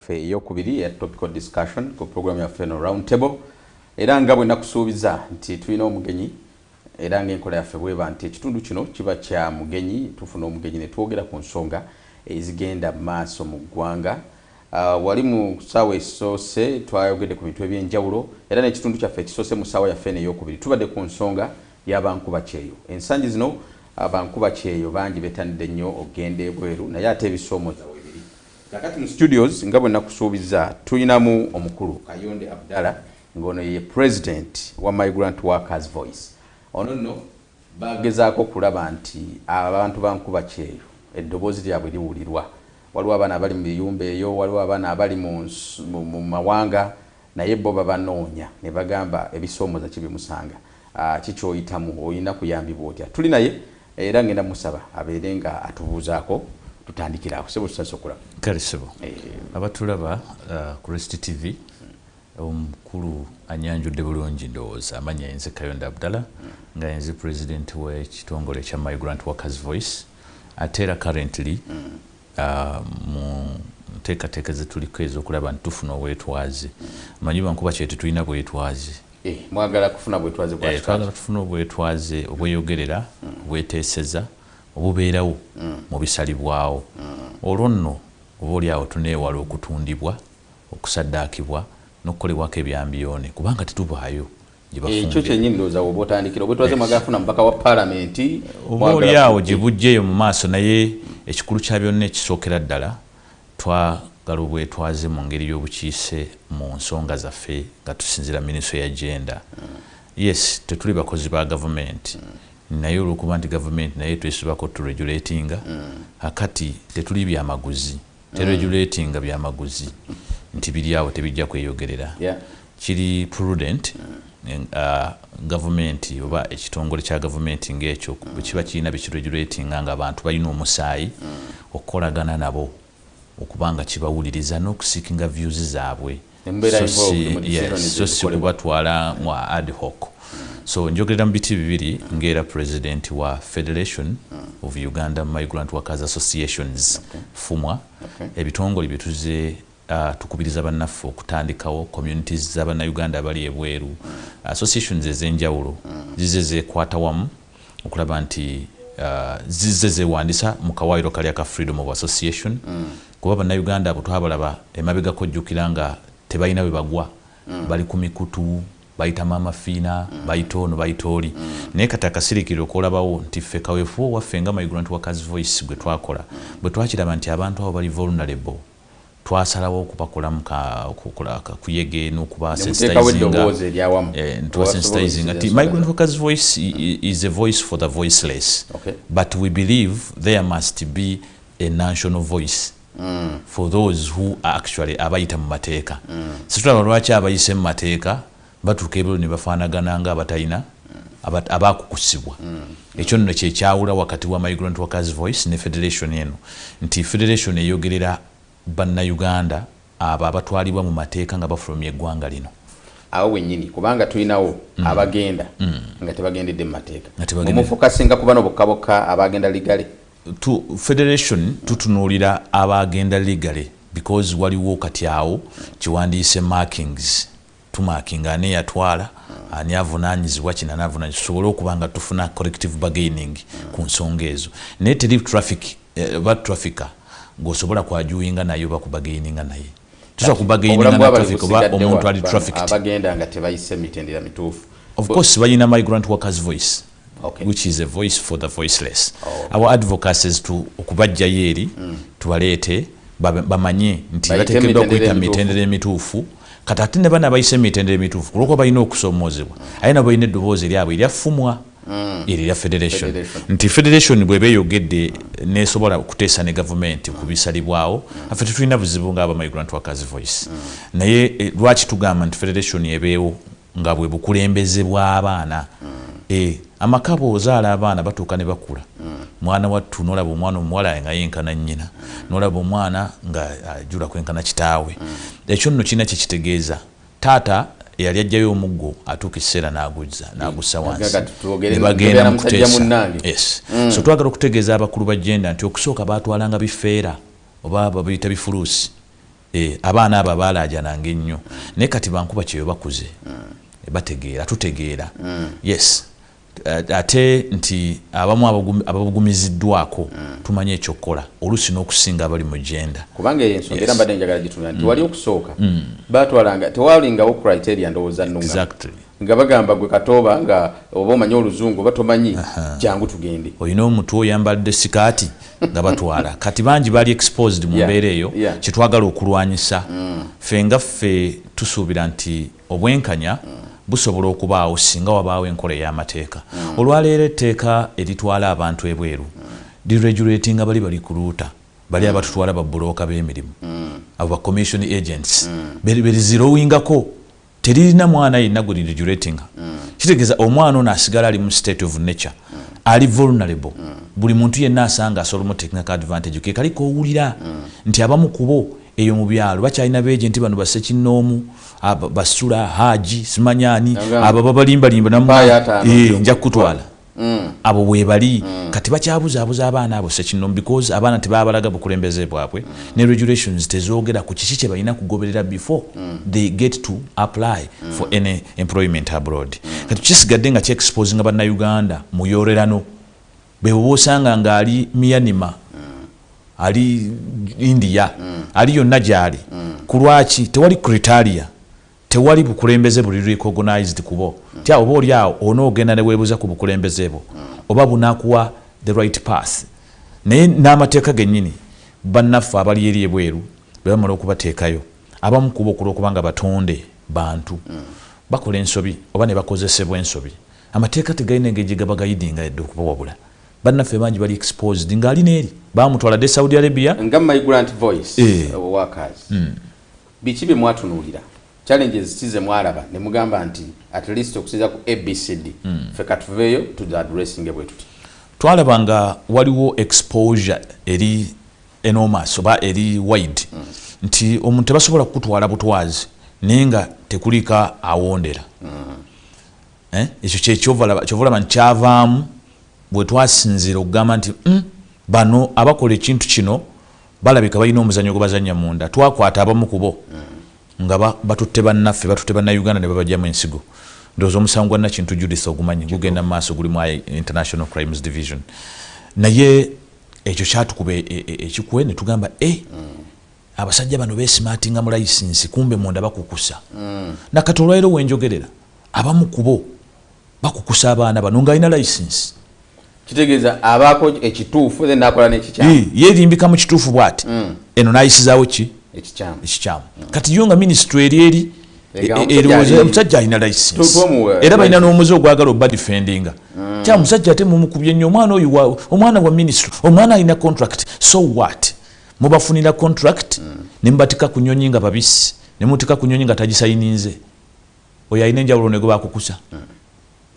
yaffe eyokubiri eya topical discussion ku program yaffe eno round table era nga bwe nakusuubiza nti tulina omugenyi era ng'enkola yaffe bweba nti ekitundu kino kiba kya mugenyi tufuna omugenyi ne twogera ku nsonga ezigenda mu maaso mu ggwanga ah, wali mu ssaawa esoose twayogedde ku bintu eby'enjawulo era n'ekitundu kyaffe ekisoose mu ssaawa yaffe eno eyokubiri tubadde ku nsonga y'abankuba kyeyo ensangi zino abankuba ah, kyeyo bangi betanidde nnyo okugenda ebweru naye ate ebisoomoza Kakati mu studios nga bwe nakusuubizza tulinamu omukulu Kayonde Abdallah ng'ono ye president wa Migrant Workers Voice. Ono nno bagezaako okulaba nti abantu ba nkuba kyeyo eddoboozi lyabwe liwulirwa. Waliwo abaana abali mu biyumba eyo, waliwo abaana abali mu mawanga. Naye bo babanoonya nebagamba ebisoomoza ki bimusanga ki kyoyitamu oyina kuyambibwa otya tuli naye era ngenda musaba abeere nga atubuuzaako tutandikire awo sebo tusase okulaba kale sebo abatulaba ku rest tv omukulu anyanjudde bulungi ndowooza amanya yenze kayonda abdala nga yenze president wekitongole ekya migrant workers voice ate era currently mu nteekateeka ze tuliko ez'okulaba nti tufuna obwetwaze. Omanyi bankuba kye tetulina bwetwaze. Eh, mwagala kufuna bwetwaze bwa eh, twagala tufuna obwetwaze obweyogerera mm. obweteeseza obubeerawo mm. mu bisalibwawo mm. olwo nno oba oli awo tuneewala okutundibwa okusaddaakibwa n'okukolebwako ebyambiyoone kubanga tetubaayo ekyo kyenyini ndowooza woba otandikira obwetwaze mwagafuna mubaka wa palamenti eh, oba oli awo gye bujjeeyo mu maaso naye ekikulu kya byonna ekisookera ddala twagala obwetwaze mu ngeri y'obukiise mu nsonga zaffe nga tusinzira miniso ya genda yes tetuli bakozi ba gavumenti naye olwokuba nti gavumenti naye twesibako turegulatinga akati tetuli byamaguzi teregulatinga byamaguzi nti biri awo tebijja kweyogerera kiri prudent mm. uh, gavumenti oba ekitongole kya gavumenti ngaekyo mm. bwekiba kirina bekiregulatinga nga abantu balina omusaayi mm. okukolagana nabo okubanga kibawuliriza n'okusikinga views zaabwe so si kubatwala mu ad hoc so njogerera mu biti bibiri ngaera president wa federation of uganda migrant workers associations fumwa ebitongole byetuze uh, tukubiriza bannaffe okutandikawo communities zabannauganda abali ebweru associations ezenjawulo zize zekwata wamu okulaba nti uh, zizze zewandisa mu kawaayiro kali aka freedom of association mm. kuba bannayuganda abo twabalaba emabegako jjukira nga tebalina bwe bagwa mm. bali ku mikutu bayita maama fiina mm. bayita ono bayita oli mm. naye kati akasirikiriro kolabawo nti ffe kaweefuba owaffe nga mayigula nti wakazi voice gwe twakola mm. bwe twakiraba nti abantu abo bali vulnerable twasalawo okubakolamu ka kuyege n'okubasensitizinga ntubasensitizinga nti migrant workers voice is a voice for the voiceless okay. but we believe there must be a national voice mm. for those who are actually abayita mu mateeka mm. situlaba lwaki abayise mu mateeka Batuuka ebweru ne bafaanagana nga abatalina abaakukusibwa. Ekyo nno kye kyawula wakati wa Migrant Workers Voice ne federation eno nti federation eyogerera Bannayuganda abo abatwalibwa mu mateeka nga bafulumye eggwanga lino. awo wennyini kubanga tulinawo mm. abagenda mm. nga tebagendedde mu mateeka omufokasinga kuba nobokka bokka abagenda ligale to federation tutunuulira abagenda ligale because waliwo kati awo kiwandiise markings tumakinga ani eyatwala ani avunanyizibwa kino ani avunanyizibwa tusobole okuba nga tufuna corrective bargaining ku nsonga ezo naye teri traffic eh, ba traffica gwosobola kwajuinga naye oba kubagaininga naye tusobola kubagaininga na traffic oba omuntu ali traffic abagenda nga tebayise mitendera mituufu of course balina migrant workers voice okay. which is a voice for the voiceless oh. our advocacies to okubajjayo eri mm. tubaleete bamanye nti batekeddwa okuyita mu mitendera emituufu kati ate ne bana bayise mu mitendera emituufu kulwokuba balina okusoomoozebwa mm. aye nabo balina eddoboozi eryabwe eryafumwa mm. eri lya federation nti federation bweba eyogedde nesobola okuteesa ne gavumenti ku bisalibwawo mm. affe tetulina buzibu nga abamigrant workers voice naye eh, lwaki tugamba nti federation ebeewo nga bwe bukulembeze bw'abaana e, amaka bw'ozaala abaana batuuka ne bakula mwana wattu n'olaba omwana omuwala nga yenkana nnyina n'olaba omwana nga ajula kwenkana kitaawe ekyo nno kirina kye kitegeeza taata eyali ajjayo omuggo atuuka ekiseera n'aguzza n'agussa wansi ne bagenda mu kuteesa mm. so twagala okutegeeza abakulu ba jenda nti okusooka baatwalanga bifeera oba babiyita bifuluusi Eh, abaana abo abaalaajananga ennyo naye kati bankuba kyeyo bakuze eh, bategeera tutegeera mm. yes eh, ate nti abamu ababugumiziddwako mm. tumanyi ekyokukola oluusi n'okusinga abali mu genda kubanga eyo ensonga era mbadde njagala gituna nti mm. wali okusooka batwalanga tewalingawo criteria ndowooza nunga Nga bagamba gwe katooba nga oba omanyi oluzungu oba tomanyi jangu tugende. Oyina omutwe oyambadde sikaati nga batwala kati bangi bali exposed mu mbeera eyo kyetwagala okulwanyisa mm. ffe nga ffe tusuubira nti obwenkanya mm. busobola okubaawo singa wabaawo enkola ey'amateeka mm. olwaleero etteeka eritwala abantu ebweru liregulatinga bali bali ku luuta bali abatutwala babbulooka b'emirimu abo ba commission agents berizirowingako teririna mwana yenna gwe lirigulatinga kitegeeza omwana ono asigala ali mu state of nature ali vulnerable buli muntu yenna asanga asobola omutekingako advantage ke kali kowulira nti abamu kubo eyo mu byalo bakyalina beje nti bano basekinnoomu basula haji simanyani abo babalimbalimba eh, nja kukutwala Mm. abo webali mm. kati bakyabuzaabuza abaana abo sekinomu because abaana tebabalaga bukulembeze bwabwe mm. ne regulations tezogera ku kiki kye balina kugoberera before mm. they get to apply mm. for any employment abroad mm. kati kisigadde nga kyexposinga bannayuganda muyorerano bwebwoba osanga ngaali miyanima mm. ali india mm. ali yonna gyali mm. ku lwaki tewali critaria Tewali bukulembeze buli recognized kubo tya oba oli awo ona ogenda newebuza ku bukulembeze bwo oba bunakuwa the right path naye n'amateeka genyini bannaffe abali eri ebweru bebamala okubateekayo abamu kubo kulwokubanga batonde bantu bakola ensobi oba nebakozesebwa ensobi amateeka tegalina engeri gyegabagayidinga yadde okubawabula bannaffe bangi bali exposed ng'ali neeri bamutwala dde saudi arabia nga maigurant voice e. owakazi mm. Biki bye mwatunuulira? Challenges ki ze mwalaba ne mugamba nti at least okusinziira ku ABCD ffe ka tuveeyo tu dhi addressinge bwe tuti? Twalaba nga waliwo exposure eri enormous oba eri wide nti omuntu tebasobola kukutwala butwazi naye nga tekuliiko awondera. Eh, ekyo kye kyova olaba kyova olaba nti kyavaamu we twasinziira okugamba nti, hmm, bano abakola ekintu kino. Balabika balina omuzanyo gwebazanya munda twakwata abamu kubo nga batutte bannaffe batutte bannauganda ne babajjamu ensigo ndowooza omusango gwa nakintu judith ogumanyi gugenda mu maaso guli mu international crimes division naye ekyo kyatukuba e, e, e, ekikwe ne tugamba e eh, abasajja bano besimatinga mu layisinsi kumbe munda bakukusa mm. nakati olwaliro wenjogerera abamu kubo bakukusa abaana bano nga alina license kitegeeza abaako ekituufu then nakola nekikyamu yerimbika mu kituufu bwati mm. eno nayisizawo ki ekikyamu mm. kati yo nga minisitule eri eri e- e- erowooza omusajja alina license era balina n'omuze ogwagala oba defendinga mm. kya musajja ate mumukubye nnyo omwana oyo omwana wa minisitule omwana alina contract so what mubafunira contract nemubatika ku nyonyi nga babisi nemutika ku nyonyi nga tagisayininze oyo alina enjawulo nego bakukusa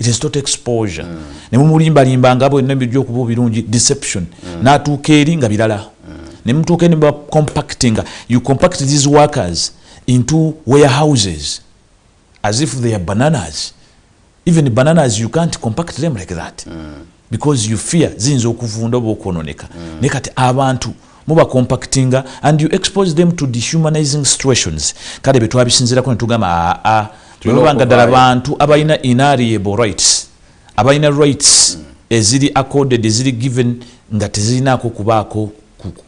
it is not exposure mm. ne mumulimba limba nga bwe nembi jo kubu birungi deception mm. na tuka eri nga bilala mm. ne mutuka ni ba compacting you compact these workers into warehouses as if they are bananas even bananas you can't compact them like that mm. because you fear ziyinza okuvunda oba okwononeka mm. naye kati abantu muba compactinga and you expose them to dehumanizing situations kale betwabisinzirako netugamba aa ah, ah, bwebabanga ddala bantu abalina inariable rights abalina rights mm. eziri accorded eziri given nga tezirinaako kubaako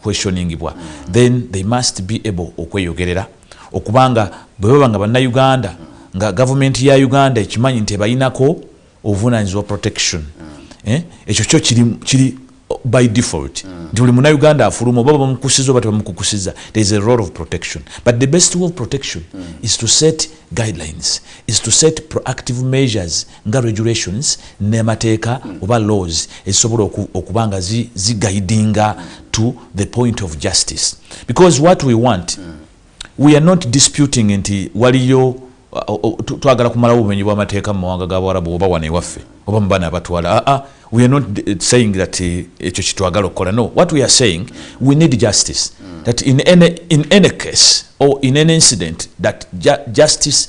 questioningibwa mm. then they must be able okweyogerera okubanga bwebabanga bannayuganda nga gavumenti ya uganda ekimanyi nti ebalinako obuvunanyizibwa protection mm. eh? ekyo kyo kiri, kiri uh, by default mm. nti buli munauganda afuluma oba bamukusiza oba tebamukukusiza there is a role of protection but the best way of protection mm. is to set guidelines is to set proactive measures nga regulations nemateeka mm. oba laws ezisobola okuba nga zigaidinga zi to the point of justice because what we want mm. We are not disputing nti waliyo twagala kumalawo obumenyi bw'amateeka mu mawanga g'Abawarabu oba wano ewaffe oba mu baana abatwala aa ah, we are not eh, saying that eh, ekyo kitwagala okukola no what we are saying we need justice that in any, in any case or in any incident that ju justice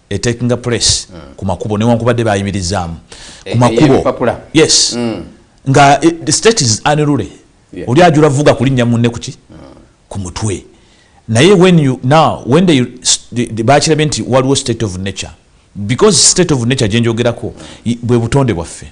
etakinga place mm. ku makubo newankubadde bayimirizaamu ku e, makubo e, yes mm. nga e, the state is unruly yeah. oli ajula vuga kulinnya munne kuki mm. ku mutwe naye when you now when they, they, they bakirabye nti waliwo state of nature because state of nature gyenjogerako bwe butonde bwaffe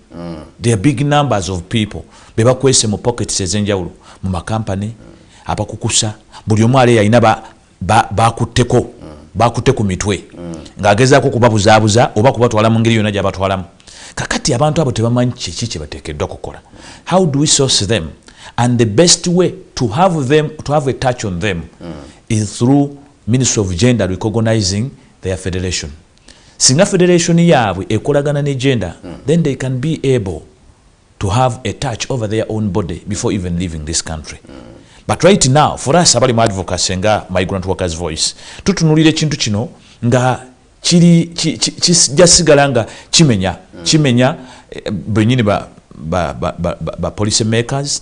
mm. there are big numbers of people bebakwese mu pockets ezenjawulo mu makampany mm. abakukusa buli omu ale yalina bakutteko ba, ba mm. bakutte ku mitwe mm. ng'agezaako kubabuzaabuza oba kubatwala mu ngeri yonna gyabatwalamu kakati abantu abo tebamanyi kiki kyebateekeddwa kukola how do we source them and the best way to have them to have a touch on them mm. is through ministry of gender recognizing their federation Singa federation yabwe ekolagana ne gender mm. then they can be able to have a touch over their own body before even leaving this country mm. but right now for us abali mu advocacy nga migrant workers voice tutunulira ekintu kino nga kiri kijasigala nga kimenya mm. kimenya eh, benyini ba, ba, ba, ba, ba policy makers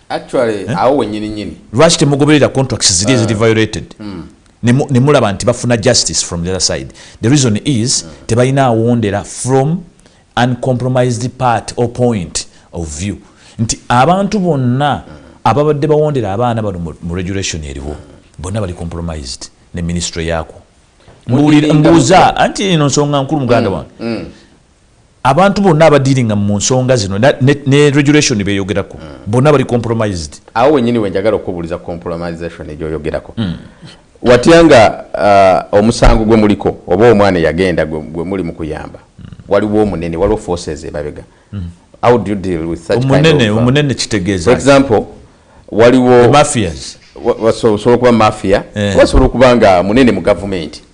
actually eh? awo wenyini nyini lwaki temugoberera contracts ziri eziri eh. violated hmm. ne mulaba nti bafuna justice from the other side the reason is hmm. tebalina awondera from uncompromised part or point of view nti abantu bonna hmm. ababadde bawondera abaana bano mu regulation eriwo bonna bali compromised ne ministry yaako mbuuza anti ino nsonga nkulu muganda wange abantu bonna abadiringa mu nsonga zino ne regulation beyogerako mm. bonna bali compromised awo wenyini wenjagala okubuliza compromisation egyoyogerako mm. watya nga uh, omusango gwe muliko oba omwana eyagenda gwe muli mu kuyamba mm. waliwo omunene waliwo forces emabega mm. how do you deal with such omunene, kind of, uh, omunene kitegeeza for example waliwo mafias wasobola okuba mafia eh. wasobola okuba nga munene mu gavumenti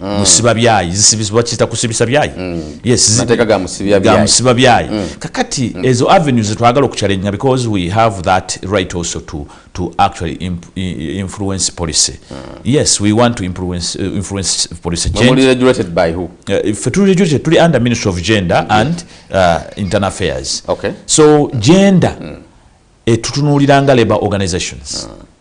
Mm. musiba byayi zisibisibakiyita kusibisa byayi mm. yesgamusiba byayi mm. kakati ezo avenue zetwagala okuchalengea because we have that right also to, to actually imp, influence policy yes we want to influence, uh, influence policy uh, fe tuli under ministry of gender and uh, internal affairs okay. so gender etutunuuliranga labor organizations mm.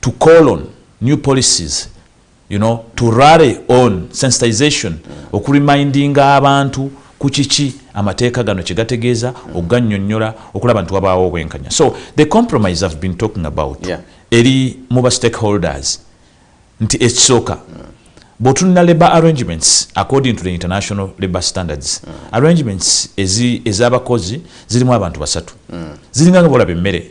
to call on new policies you know, to rally on sensitization okuremindinga abantu ku kiki amateeka gano kye gategeeza okuganyonyola okulaba nti wabaawo obwenkanya so the compromise have been talking about yeah. eri mu ba stakeholders nti ekisooka mm. bwotunula labor arrangements according to the international labor standards mm. arrangements ezabakozi zirimu abantu basatu mm. ziringa nga bolaba emmere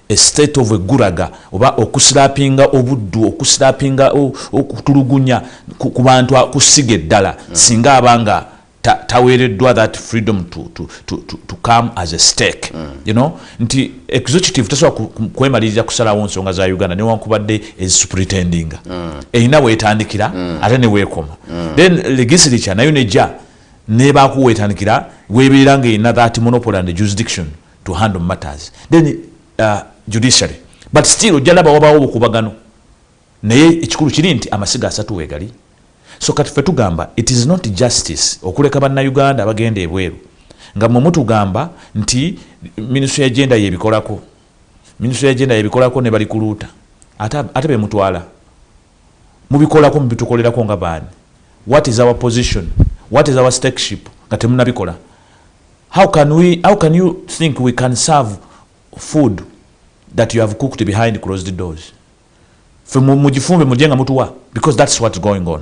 A state of a guraga oba okusilapinga obuddu, okusilapinga okutulugunya ku bantu ku ssiga eddala hmm. singa aba nga taweereddwa that freedom to, to, to, to, to come as a stake mm. you know nti executive tasobola kwemalirira kusalawo nsonga za uganda newankubadde ezisupretendinga mm. erina weetandikira mm. ate neweekoma mm. then legisliture nayo nejja nebakuweetandikira weebeera ngaerina that monopoly and jurisdiction to handle matters then uh, judiciary but still ojja laba wabawo obukubagano naye ekikulu kiri nti amasiga asatu wegali so kati fe tugamba it is not justice okuleka bannauganda abagenda ebweru nga mwe mutugamba nti ministry ya genda yebikolako ministry ya genda yebikolako ne bali kuluuta ate, ate bemutwala mubikolako mubitukolerako nga baani what is our position what is our stakeship nga temunabikola how can we how can you think we can serve food that you have cooked behind closed doors fe mugifumbe muje nga mutuwa because that's what's going on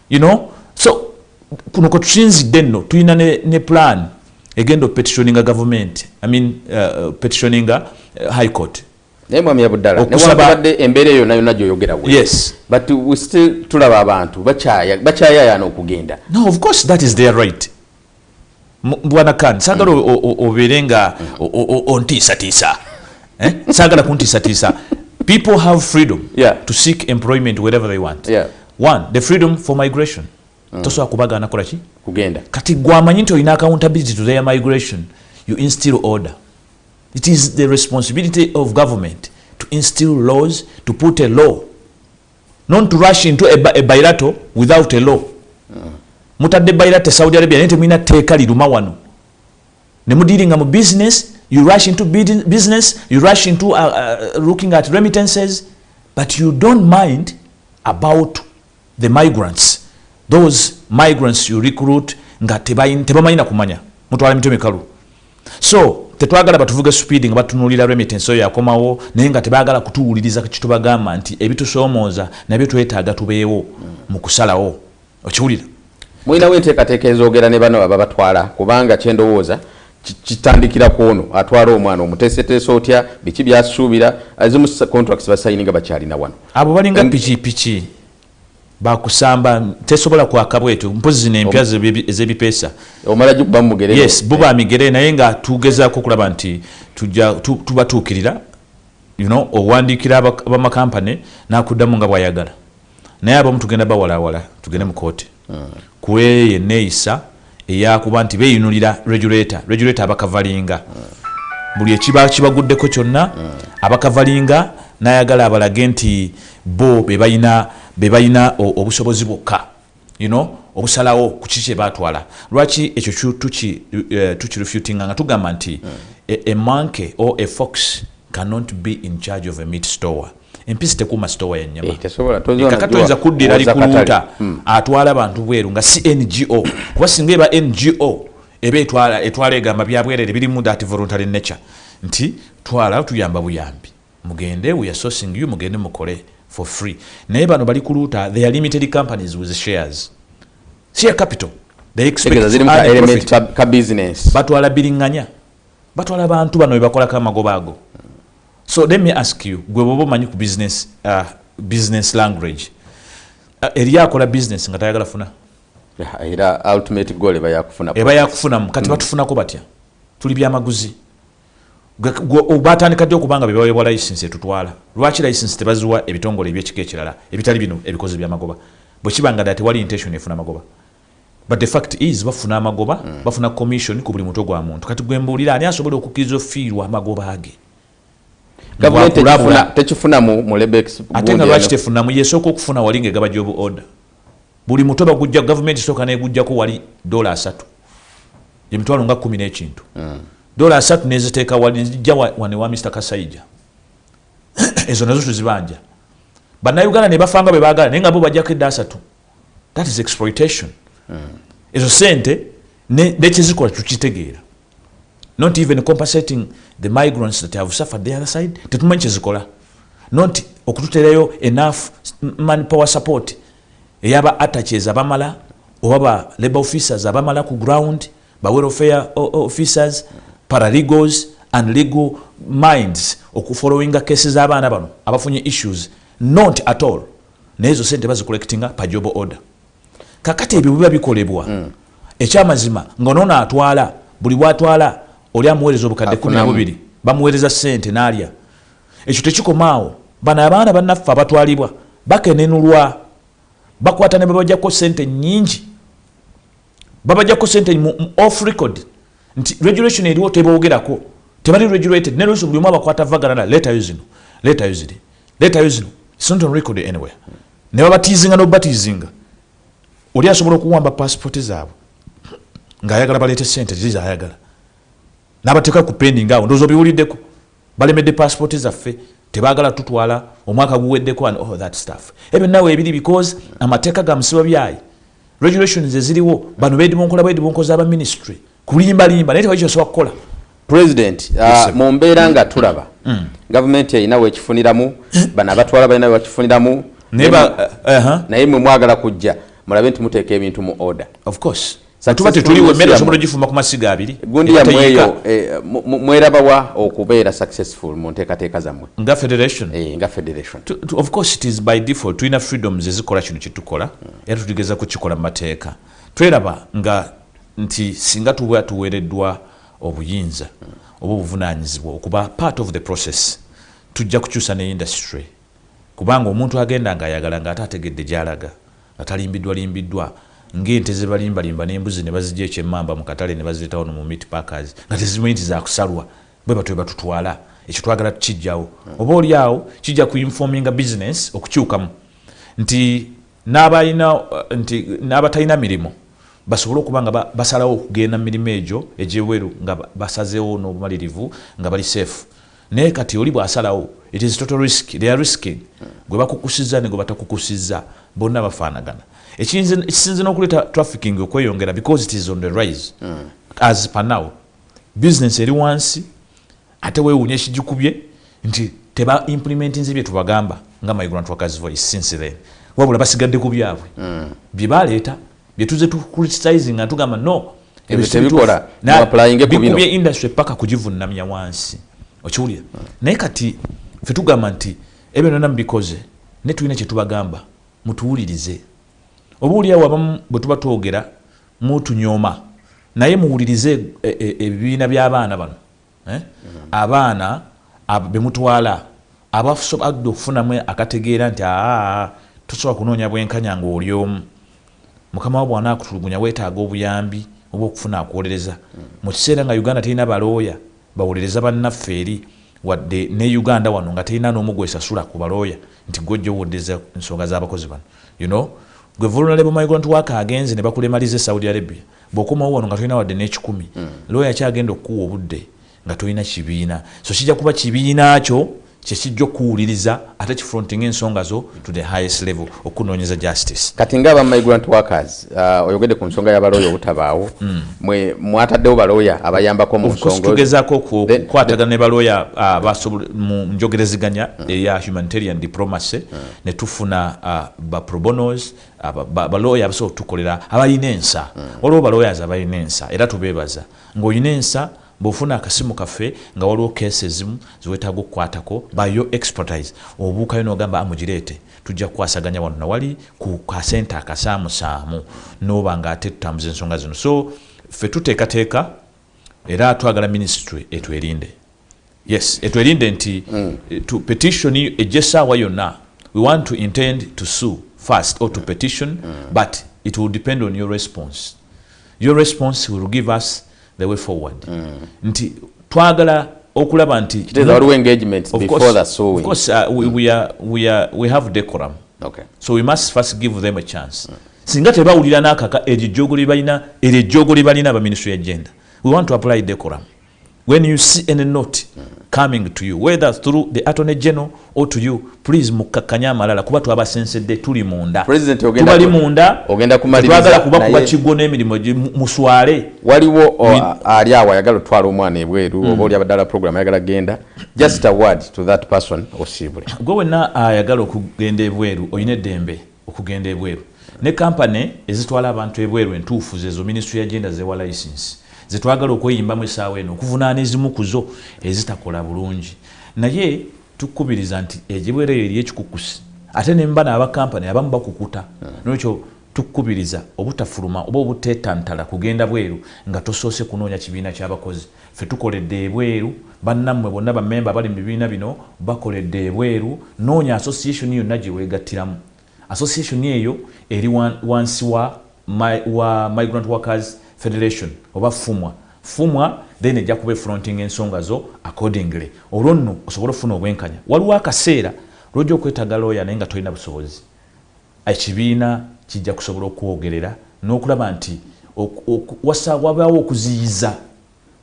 you know so kuno kwetusinzidde nno tulina ne, ne plan egenda opetitioninga gavumenti i mean uh, uh petitioninga uh, high court naye mwami yabuddala newakubadde embeera eyo nayo nagyo oyogera we yes but we still tulaba abantu bakyayayaana okugenda no of course that is their right bwana kan sagala obeere nga ontiisatiisa eh? sagala kuntiisatiisa people have freedom yeah. to seek employment wherever they want yeah. one the freedom for migration mm. tosobola kubagaana kola ki kugenda kati gwamanyi nti olina accountability to their migration you instill order it is the responsibility of government to instill laws to put a law not to rush into a, a bilateral without a law mutadde bilateral saudi arabia naye temulina tteeka liruma wano ne mudiringa mu business you rush into business you rush into uh, uh, looking at remittances but you don't mind about the migrants those migrants you recruit nga tebamanyi na kumanya mutwala mitwe mikalu so tetwagala batuvuge supiidi nga batunulira remittance oyo yakomawo naye nga tebagala kutuwuliriza kitubagamba nti ebitusoomooza nabyo twetaaga tubeewo mu kusalawo okiwulira mulinawo enteekateeka ezoogera ne bano ababatwala kubanga kyendowooza kitandikira ku ono atwala omwana omuteeseteese otya biki byasuubira ezimu contracts basayininga bakyalina wano abo balinga pikipiki bakusamba tesobola kwaka bwetyo mpozi nempya ezebipesa omala gikuba mumugere yes buba eh. migere naye nga tugezako okulaba nti tuja tubatuukirira you know owandiikira abamakampane nakuddamu nga bwayagala naye abamu tugenda bawalawala tugende mu kooti hmm. kweyo eneeyisa eyakuba nti beyunulira regulator regulator abakavalinga buli ekiba kibaguddeko kyonna abakavalinga nayagala abalage nti bo bebalina bebalina obusobozi bwokka you know obusalawo kuki kyebatwala lwaki ekyo tukirefutinga eh, nga tugamba nti emanke eh, o efox cannot be in charge of a meat store empisi tekuuma sitowa ya nyama eh, kaka toyinza kuddira ali kuluuta hmm. atwala bantu bweru nga si ngo kuba singa eba ngo eba etwala egamba byabwerere birimu that voluntary nature nti twala tuyamba buyambi mugende we are sourcing you mugende mukole for free naye bano bali kuluuta they are limited companies with shares share capital they expect ka business batwala biringanya batwala abantu bano bebakolako amagoba ago so let me ask you gwe boba omanyi ku business, uh, business language uh, eriyo akola business nga tayagala funa era ultimate goal eba yakufuna eba yakufunamu kati mm. batufunako batya tuli byamaguzi batandika ddi okubanga bebawebwa license etutwala lwaki license tebaziwa ebitongole ebyekika ekirala ebitali bino ebikozi byamagoba bwekiba nga da tewali intention efuna magoba But the fact is bafuna amagoba, mm. bafuna commission ku buli mutwe gwa muntu. Kati gwe mbuulira ani asobola okukkiriza ofiirwa amagoba age? Gavumenti tekifuna, tekifuna mu, mu Lebex. Ate nga lwaki tefunamu yesooka okufuna wali ng'egaba jobu order. Buli mutwe bagujja gavumenti sooka n'egujjako wali dola asatu. Emitwalo nga kkumi n'ekintu. Mm. Dola asatu n'eziteeka wali zijja wano ewa Mr Kasaija. Ezo nazo tuzibanja. Bannayuganda ne bafanga bwe baagala naye nga bo bajjako edda asatu. that is exploitation ezo sente nekyezikola tukitegeera not even compensating the migrants that have suffered the other side tetumanyi kyezikola not okututerayo enough man power support eyaba attaches abamala oba ba labor officers abamala ku ground ba welfare officers paralegals and legal minds okufollowinga cases abaana bano abafunye issues not at all naye ezo sente bazicollectinga pa job order kakati ebyo biba bikolebwa mm. ekyamazima nga nono atwala buli bwatwala oli amuweereza obukadde kumi nabubiri bamuweereza sente nalya ekyo tekikomaawo bano abaana banaffe abatwalibwa bakenenulwa bakwata ne babajako sente nyingi babajako sente mu off record nti regulation eriwo teboogerako tebali regulated nelwekyo buli omu abakwata vagarana letayo zino letayo ziri leetayo zino sint on record anywhere ne babatiizinga nobatiizinga oli asobola okuwamba pasipooti zaabwe ng'ayagala baleete sente ziza ayagala n'abateeka ku pending awo ndoozi obiwuliddeko balemedde pasipooti zaffe tebagala tutwala omwaka guweddeko and all that stuff ebyo nawe ebiri because amateeka ga musiba byayi regulations eziriwo bano bedibonkolabaedibonkoza aba ministry kulimba limba naye tewali kyosobola kukola president uh, mu mbeera nga tulaba mm. mm. gavumenti erina wekifuniramu bano abatwala balina webakifuniramu naye uh-huh. mwe mwagala kujja mulabe nti muteeka ebintu mu order of course tuba tetuliwo emmere osobola ogifumba ku masiga abiri gundi yamweyo eh, mwerabawa okubeera successful mu nteekateeka zammwe nga federation eh, nga federation of course it is by default tulina freedoms ezikola kino kyetukola era tuligeza kukikola mu mateeka tweraba nga nti singa tuba tuweereddwa obuyinza oba obuvunanyizibwa okuba part of the process tujja kukyusa ne industry kubanga omuntu agenda ngaayagala nga ate ategedde gyalaga nga talimbiddwa limbiddwa ng'ente zebalimbalimba n'embuzi ne bazija ekyemmamba mu katale ne bazireetawo no mu meat packers nga tezimanyi nti zakusalwa bwe batwe batutwala ekyo twagala tukijjawo oba oli awo kijja ku informinga business okukyukamu nti n'abalina nti n'abatalina mirimu basobole okuba nga basalawo okugenda mu mirimu egyo egy'ebweru nga basazeewo n'obumalirivu nga bali seefu naye kati oli bw'asalawo it is total risk they are risking gwe bakukusizza ne gwe batakukusizza bonna bafaanagana ekisinze n'okuleeta trafficking okweyongera because it is on the rise mm. as panow bizinensi eri wansi ate wewunya ekijikubye nti teba implementinze byetubagamba nga my grand workers voice since then wabula basigadde ku byabwe mm. bye baleeta bye tuze tu criticizing nga tugamba no ebyo tebikola na applying ku bino bikubye industry paka kujivunnamya wansi okiwulira mm. naye kati fe tugamba nti ebyo nana mbikoze ne tulina kye tubagamba mutuwulirize oba uliawo abamu bwe tuba twogera mutunyoma naye muwulirize e, e, ebibiina by'abaana bano eh? abaana bemutwala abasobadde okufunamu akategeera nti aa tosobola kunoonya bwenkanya nga oli omu mukama wa bwana akutulugunya wetaaga obuyambi oba okufuna akuwolereza mu kiseera nga uganda terina balooya bawolereza bannaffe eri wadde ne uganda wano nga terina n'omu gwesasula ku balooya nti gwejjowodeza ensonga z'abakozi bano you know gwe vulunalebomaigontu waka agenze ne bakulemaliza e saudi arabia bwokomawo wano nga tolina wadde n'ekikumi mm. looya akyagenda okukuwa obudde nga tolina kibiina so kijja kuba kibiina kyo kyekijja okuwuliriza ate kifrontinga ensonga zo to the highest level okunoonyeza justice kati nga aba migrant workers uh, oyogedde ku nsonga y'abalooya obutabaawo mm. mwe mwataddewo balooya abayambako mu nsongatugezaako okukwatagana ne balooya uh, mu njogereziganya mm. eya humanitarian diplomacy mm. ne tufuna uh, baprobonos balooya abasobola okutukolera abalina ensa mm. waliwo baloyazi abalina ensa era tubeebaza ng'olina ensa bwofuna akasimu kaffe nga waliwo keesi ezimu ziwetaaga okukwatako bayo expertise obuukayo nogamba amugireete ah, tujja kukwasaganya wano nawali ku kasente akasaamusaamu noba nga ate tutambuza ensonga zino so ffe tuteekateeka era twagala minisitule etwerinde yes etwerinde nti mm. to petition ejja essaawa yonna we want to intend to sue first or to mm. petition mm. but it will depend on your response your response will give us the way forward mm. nti twagala okulaba nti waliwo engagement of before course, the suing. Of course, uh, we, we, are, we, are, we have decorum okay. so we must first give them a chance mm. singa tebawulira n'akaka eryo ejjoogo lye balina eryo ejjoogo lye balina abaministry ya genda we want to apply decorum when you see any note coming to you whether through the attorney general or to you please mukakkanye amalala kuba twabasensedde tuli munda tubali munda twagala kuba kuba kigwo n'emirimu muswale waliwo ali awo ayagala otwala omwana ebweru hmm. oba oli abadala program ayagala genda just a word to that person osiibule gwe wenna ayagala okugenda ebweru olina eddembe okugenda ebweru ne company ezitwala abantu ebweru entuufu zezo ministry ya genda zewa license zetwagala okweyimbamu esaawa eno okuvunaana ezimu kuzo ezitakola bulungi naye tukubiriza nti egibwera eyo eriyo ekikukusi ate nemba naaba company abamu bakukuta hmm. nolwekyo tukubiriza obutafuluma oba obutetantala kugenda bweru nga tosoose kunoonya kibiina kyabakozi Ffe tukoledde ebweru, bannammwe bonna bammemba abali mu bibiina bino bakoledde ebweru. Noonya association yonna gye weegattiramu. Association eyo eri wa, wansi wa, my, wa Migrant Workers Federation oba FUMWA. FUMWA then ejja kuba efrontinga ensonga zo accordingly olwo nno osobole okufuna obwenkanya. Waliwo akaseera lw'ojja okwetaaga looya naye nga tolina busobozi. Ekibiina kijja kusobola okwogerera n'okulaba nti wasa wabaawo okuziyiza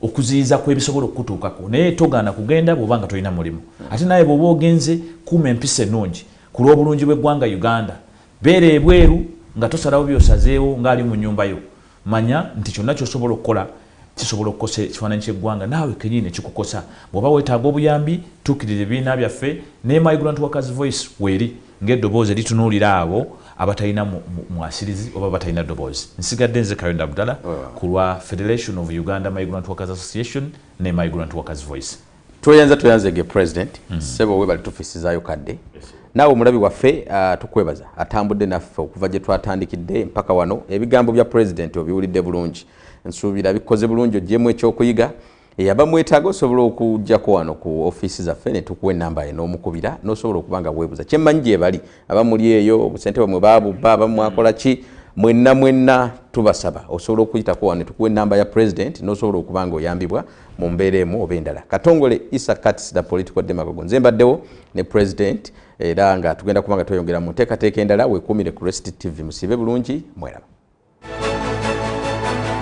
okuziyiza kw'ebisobola okukutuukako naye togaana kugenda bw'oba nga tolina mulimu ate naye bw'oba ogenze kuuma empisa ennungi ku lw'obulungi bw'eggwanga Uganda beera ebweru nga tosalawo by'osazeewo ng'ali mu nnyumba yo. Manya nti kyonna ky'osobola okukola kisobola okukosa ekifaananyi ky'eggwanga naawe kennyini ne kikukosa. Bw'oba weetaaga obuyambi, tuukirira ebibiina byaffe ne Migrant Workers Voice weeri ng'eddoboozi eritunuulira abo abatalina mwasirizi oba abatalina ddoboozi. Nsigadde nze Kayondo Abdallah ku lwa Federation of Uganda Migrant Workers Association ne Migrant Workers Voice. Tweyanza tweyanza ege president mm. sebo webali tufisizayo kadde yes, naawe omulabi waffe uh, tukwebaza atambudde naffe okuva gye twatandikidde mpaka wano ebigambo bya president obiwulidde bulungi nsuubira bikoze bulungi ogyemu ekyokuyiga eyaba mwetaaga osobola okujjako wano ku ofiisi zaffe ne tukuwa enamba ye n'omukubira n'osobola okuba nga weebuza kye mmanyi gyebali aba muli eyo obusente bwemwe baabubba aba mwakola ki mwenna mwenna tubasaba osobola okuyitako wano ne tukuwa enamba ya president n'osobola okuba nga oyambibwa mu mbeera emu oba endala katongole isa cats the political demagogo nze mbaddewo ne president era nga tugenda kuba nga tweyongera mu nteekateeka endala wekuumire ku rest tv musiibe bulungi mweraba